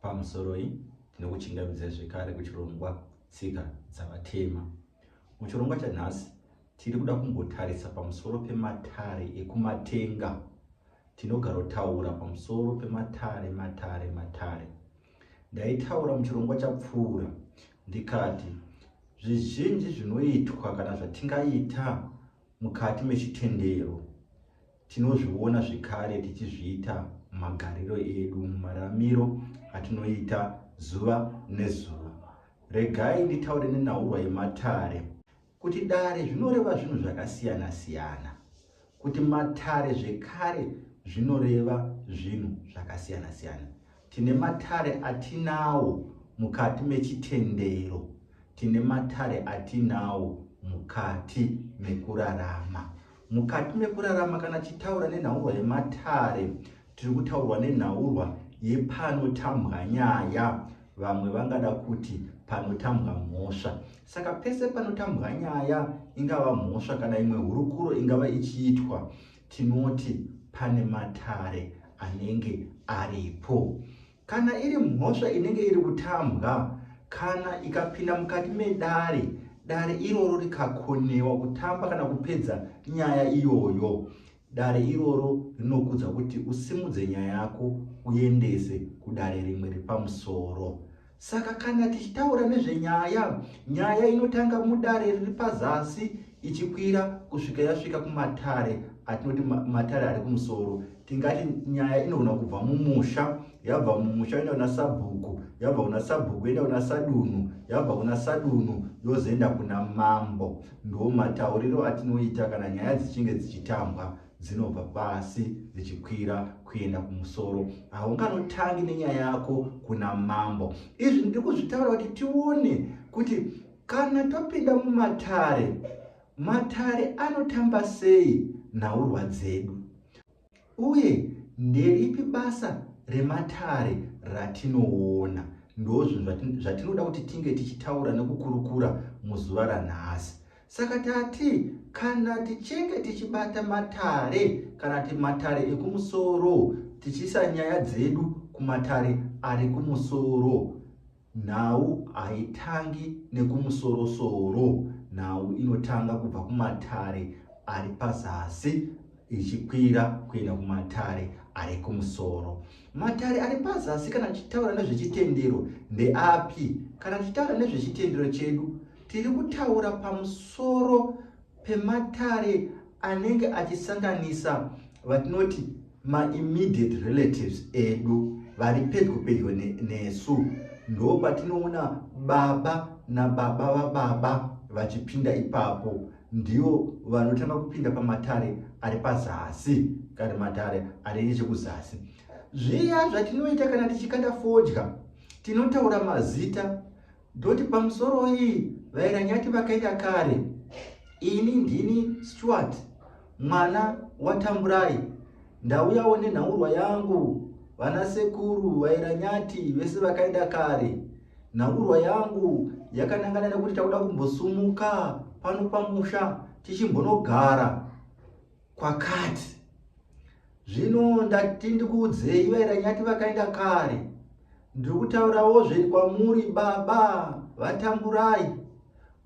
Pamusoroi tinokuchingamidzai zvekare kuchirongwa Tsika Dzavatema. Muchirongwa chanhasi tiri kuda kumbotarisa pamusoro pematare ekumatenga. Tinogarotaura pamusoro pematare matare matare. Ndaitaura muchirongwa chapfuura ndikati zvizhinji zvinoitwa kana zvatingaita mukati mechitendero Tinozviona zvekare tichizviita mumagariro edu, mumararamiro atinoita zuva nezuva. Regai nditaure nenhaurwa yematare. Kuti dare zvinoreva zvinhu zvakasiyana-siyana. Kuti matare zvekare zvinoreva zvinhu zvakasiyana-siyana. Tine matare atinawo mukati mechitendero. Tine matare atinawo mukati mekurarama. Mukati mekurarama kana tichitaura nenhaurwa yematare, tiri kutaurwa nenhaurwa yepanotambwa nyaya vamwe vangada kuti panotambwa mhosva saka pese panotambwa nyaya ingava mhosva kana imwe hurukuro ingava ichiitwa Tinoti pane matare anenge aripo. Kana iri mhosva inenge iri kutambwa, kana ikapinda mukati medare, dare iroro rikakonewa kutamba kana kupedza nyaya iyoyo, dare iroro rinokudza kuti usimudze nyaya yako uendese kudare rimwe repamusoro. Saka kana tichitaura nezvenyaya, nyaya inotanga mudare riri pazasi ichikwira kusvika yasvika kumatare atinoti matare ari kumusoro tingati nyaya inogona kubva mumusha yabva mumusha yoenda kuna sabhuku yabva kuna sabhuku yoenda kuna sadunhu yabva kuna sadunhu yozoenda kuna mambo ndo matauriro atinoita kana nyaya dzichinge dzichitambwa dzinobva pasi dzichikwira kuenda kumusoro haunganotangi nenyaya yako kuna mambo izvi ndiri kuzvitaura kuti tione kuti kana topinda mumatare matare anotamba sei nhaurwa dzedu uye nderipi basa rematare ratinoona ndozvinhu zvatinoda kuti tinge tichitaura nekukurukura muzuva ranhasi Saka tati kana tichinge tichibata matare kana kuti matare ekumusoro tichiisa nyaya dzedu kumatare ari kumusoro nhau haitangi nekumusoro-soro nhau inotanga kubva kumatare ari pazasi ichikwira kuenda kumatare ari kumusoro matare ari pazasi kana tichitaura nezvechitendero ndeapi kana tichitaura nezvechitendero chedu Tiri kutaura pamusoro pematare anenge achisanganisa vatinoti maimmediate relatives edu vari pedyo pedyo nesu ndo patinoona baba nababa vababa vachipinda ipapo ndivo vanotanga kupinda pamatare ari pazasi kana matare ari nechekuzasi zviya zvatinoita kana tichikanda fodya tinotaura mazita Ndoti pamusoro iyi vairanyati vakaita kare. Ini ndini Stuart mwana waTamburai ndauyawo nenhaurwa yangu vana sekuru vairanyati vese vakaenda kare nhaurwa yangu yakanangana nekuti takuda kumbosumuka pano pamusha tichimbonogara kwakati zvino ndati ndikuudzei vairanyati vakaenda kare ndiri kutaurawo zveri kwamuri baba vatamburai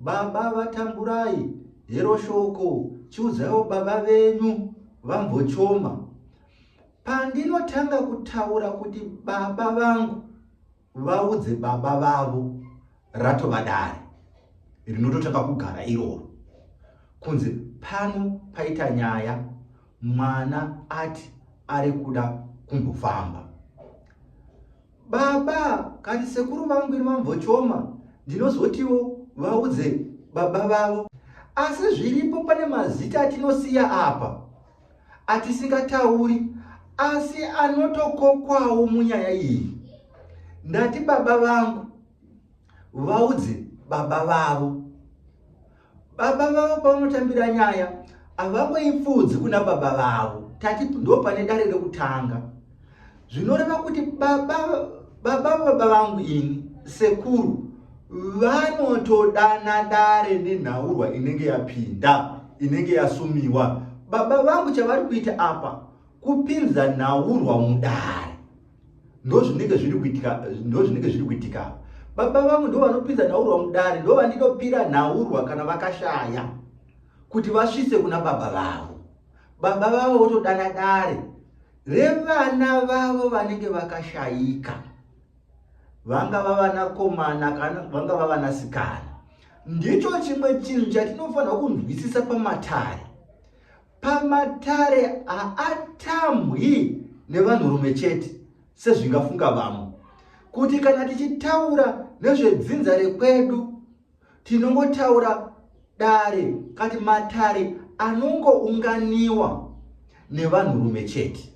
baba vatamburai hero shoko chiudzaiwo baba venyu vambochoma pandinotanga kutaura kuti baba vangu vaudze baba vavo ratova dare rinototanga kugara iroro kunzi pano paita nyaya mwana ati ari kuda kumbofamba baba kani sekuru vangu ini vambochoma ndinozotiwo vaudze baba vavo asi zviripo pane mazita atinosiya apa atisingatauri asi anotokokwawo munyaya iyi ndati baba vangu vaudze baba vavo baba vavo pavanotambira nyaya havangoipfuudzi kuna baba vavo tati ndo pane dare rekutanga zvinoreva kuti baba baba baba vangu ini sekuru vanotodana dare nenhaurwa inenge yapinda inenge yasumiwa baba vangu chavari kuita apa kupinza nhaurwa mudare ndozvinenge zviri kuitika ndozvinenge zviri kuitika baba vangu ndo vanopinza nhaurwa mudare ndo vandinopira nhaurwa kana vakashaya kuti vasvise kuna baba vavo baba vavo votodana dare revana vavo vanenge vakashayika vangava vanakomana kana vangava vanasikana ndicho chimwe chinhu chatinofanirwa kunzwisisa pamatare pamatare haatamwi nevanhurume chete sezvingafunga vamwe kuti kana tichitaura nezvedzinza rekwedu tinongotaura dare kati matare anongounganiwa nevanhurume chete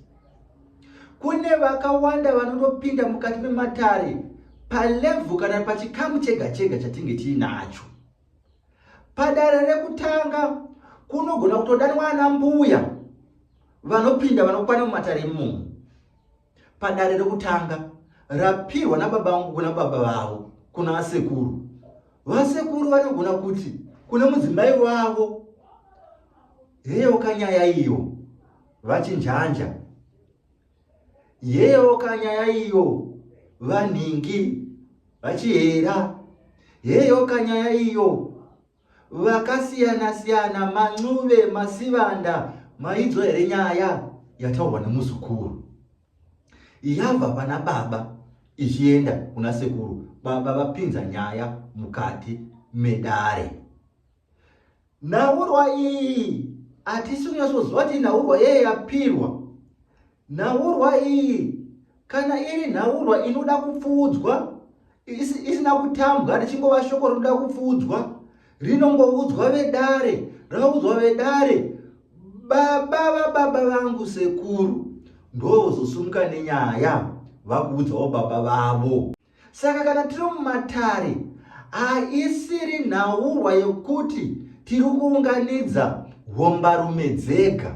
kune vakawanda vanotopinda mukati mematare palevhu kana pachikamu chega chega chatinge tiinacho padare rekutanga kunogona kutodanwa ana mbuya vanopinda vanokwana mumatare imomo padare rekutanga rapirwa nababa vangu kuna baba vavo kuna vasekuru vasekuru vanogona kuti kune mudzimai wavo yeyoka nyaya iyo vachinjanja yeyoka nyaya iyo vanhingi vachihera yeyoka nyaya iyo vakasiyana siyana mancuve masivanda maidzwa here nyaya yataurwa nemuzukuru yabva pana baba ichienda kuna sekuru baba vapinza nyaya mukati medare nhaurwa iyi hatisi kunyatsoziva kuti inhaurwa yeye yapirwa Nhaurwa iyi kana iri nhaurwa inoda kupfuudzwa isina kutambwa richingova shoko rinoda kupfuudzwa rinongoudzwa vedare raudzwa vedare baba vababa vangu sekuru ndovozosumuka nenyaya vakuudzawo baba vavo saka kana tiri mumatare haisiri nhaurwa yokuti tiri kuunganidza hombarume dzega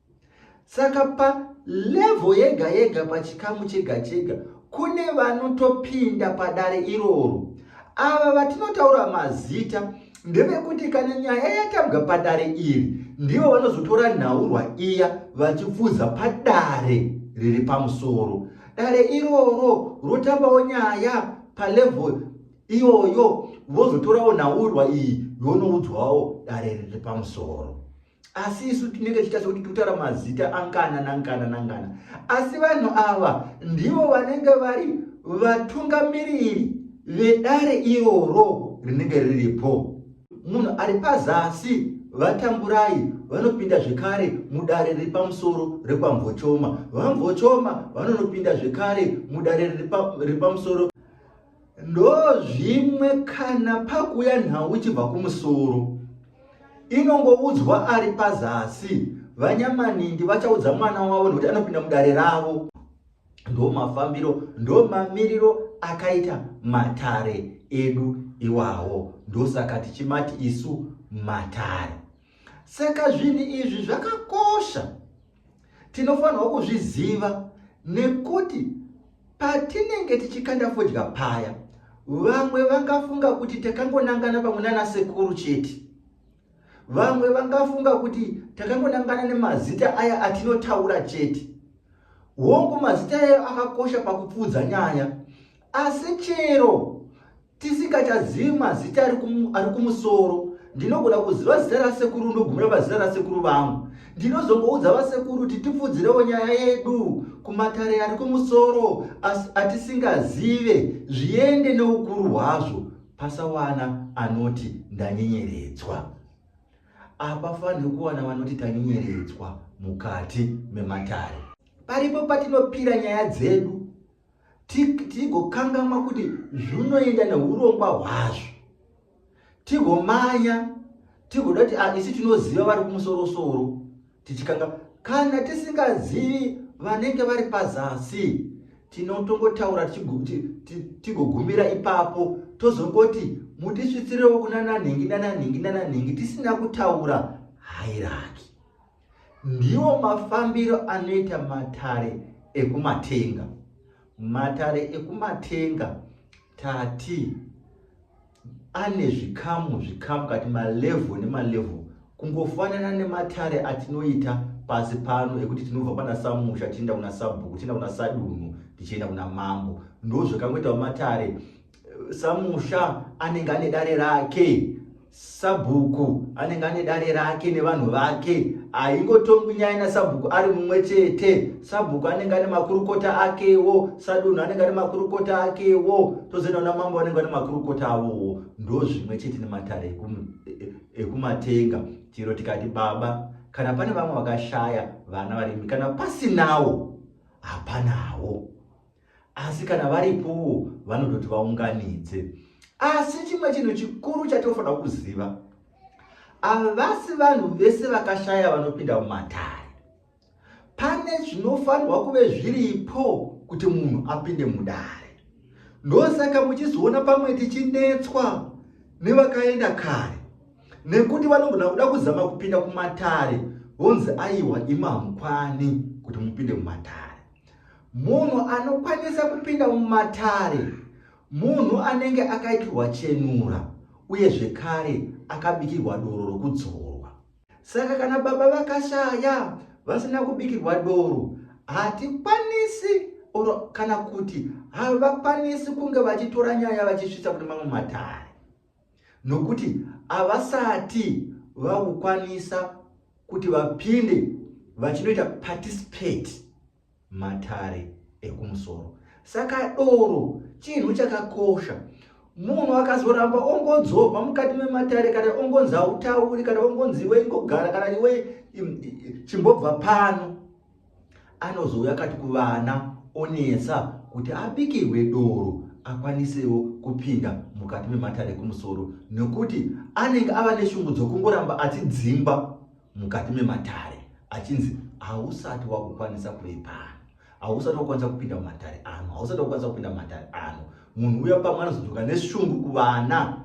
saka palevo yega yega pachikamu chega chega kune vanotopinda padare iroro ava vatinotaura mazita ndevekuti kana nyaya yatambwa padare iri ndivo vanozotora nhaurwa iya vachipfuza padare riri pamusoro dare iroro rotambawo nyaya palevo iyoyo vozotorawo nhaurwa iyi yonoudzwawo dare riri pamusoro asi isu tinenge tichitasa kuti totara mazita angana nangana nangana asi vanhu ava ndivo vanenge vari vatungamiriri vedare iroro rinenge riripo munhu ari pazasi vatamburai vanopinda zvekare mudare riri pamusoro rekwamvochoma vamvochoma vanonopinda zvekare mudare riri pamusoro ndozvimwe kana pakuya nhau ichibva kumusoro inongoudzwa ari pazasi vanyamanindi vachaudza mwana wavo nokuti anopinda mudare ravo ndo mafambiro ndo mamiriro akaita matare edu iwawo ndosaka tichimati isu matare saka zvinhu izvi zvakakosha tinofanirwa kuzviziva nekuti patinenge tichikanda fodya paya vamwe vangafunga kuti takangonangana pamwe nana sekuru chete vamwe vangafunga kuti takangonangana nemazita aya atinotaura chete hongu mazita ayo akakosha pakupfuudza nyaya asi chero tisingachazivi mazita ari kumusoro ndinogona kuziva zita rasekuru ndogumira pazita rasekuru vangu ndinozongoudza vasekuru kuti tipfudzirewo nyaya yedu kumatare ari kumusoro asi atisingazive zviende neukuru hwazvo pasawana anoti ndanyenyeredzwa apafaniri kuwana vanoti tanyenyeredzwa mukati mematare paripo patinopira nyaya dzedu tigokangamwa kuti zvinoenda neurongwa hwazvo tigomanya tigoda kuti ah, isi tinoziva vari kumusorosoro tichikanga kana tisingazivi vanenge vari pazasi tinotongotaura tigogumira ipapo tozongoti mutisvitsirewo kunananhingi nananhingi nananhingi tisina kutaura hairaki Ndiwo mafambiro anoita matare ekumatenga. Matare ekumatenga tati ane zvikamu zvikamu kati malevho nemalevho kungofanana nematare atinoita pasi pano ekuti tinobva pana samusha tichienda kuna sabhuku tichienda kuna sadunhu tichienda kuna mambo ndozvakangoitawo matare samusha anenge ane dare rake sabhuku anenge ane dare rake nevanhu vake haingotongwi nyaya nasabhuku ari mumwe chete sabhuku anenge ane makurukota akewo sadunhu anenge ane makurukota akewo tozoenda kuna mambo anenge ane makurukota avowo ndo zvimwe chete nematare e, e, ekumatenga chero tikati baba kana pane vamwe vakashaya vana varimi kana pasinawo hapanawo asi kana varipowo vanototi vaunganidze asi chimwe chinhu chikuru chatinofanira kuziva havasi vanhu vese vakashaya vanopinda mumatare pane zvinofanirwa kuve zviripo kuti munhu apinde mudare ndosaka muchizoona pamwe tichinetswa nevakaenda kare nekuti vanogona kuda kuzama kupinda kumatare vonzi aiwa imamukwani kuti mupinde mumatare munhu anokwanisa kupinda mumatare munhu anenge akaitirwa chenura uye zvekare akabikirwa doro rokudzorwa saka kana baba vakashaya vasina kubikirwa doro hatikwanisi or kana kuti havakwanisi kunge vachitora nyaya vachisvitsa kune mamwe matare nokuti havasati vakukwanisa kuti vapinde vachinoita participate matare ekumusoro saka doro chinhu chakakosha munhu akazoramba ongodzorwa mukati mematare kana ongonzi hautauri kana ongonzi iwe ingogara kana iwe chimbobva pano anozouya akati kuvana onetsa kuti abikirwe doro akwanisewo kupinda mukati mematare ekumusoro nokuti anenge ava neshungu dzokungoramba achidzingwa mukati mematare achinzi hausati wakukwanisa kuve pano hausati wakwanisa kupinda mumatare ano hausati wakwanisa kupinda mumatare ano munhu uya pamwe anozodzoka neshungu kuvana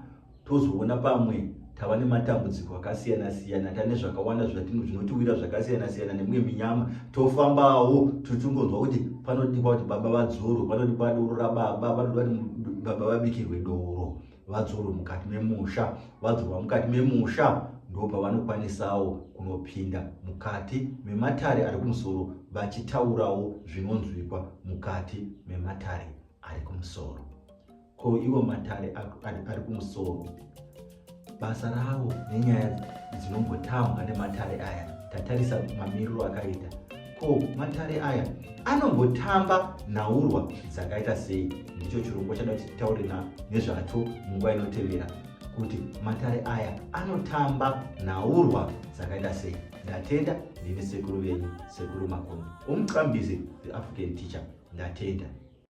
tozoona pamwe tava nematambudziko akasiyana siyana tane zvakawanda zvinotiwira zvakasiyana siyana nemwe minyama tofambawo tuchingonzwa kuti panodikwa kuti baba vadzoro panodikwa doro rababa panoda kuti baba vabikirwe doro vadzoro mukati memusha vadzorwa mukati memusha ndo pavanokwanisawo kunopinda mukati mematare ari kumusoro vachitaurawo zvinonzwikwa mukati mematare ari kumusoro ko ivo matare ari kumusoro basa ravo nenyaya dzinombotambwa nematare aya tatarisa mamiriro akaita ko matare aya anombotamba nhaurwa dzakaita sei ndicho chirongwa chada kuti titaure nezvacho munguva inotevera kuti matare aya anotamba nhaurwa dzakaita sei ndatenda ndini sekuru venyu sekuru makoni omucambizi the african teacher ndatenda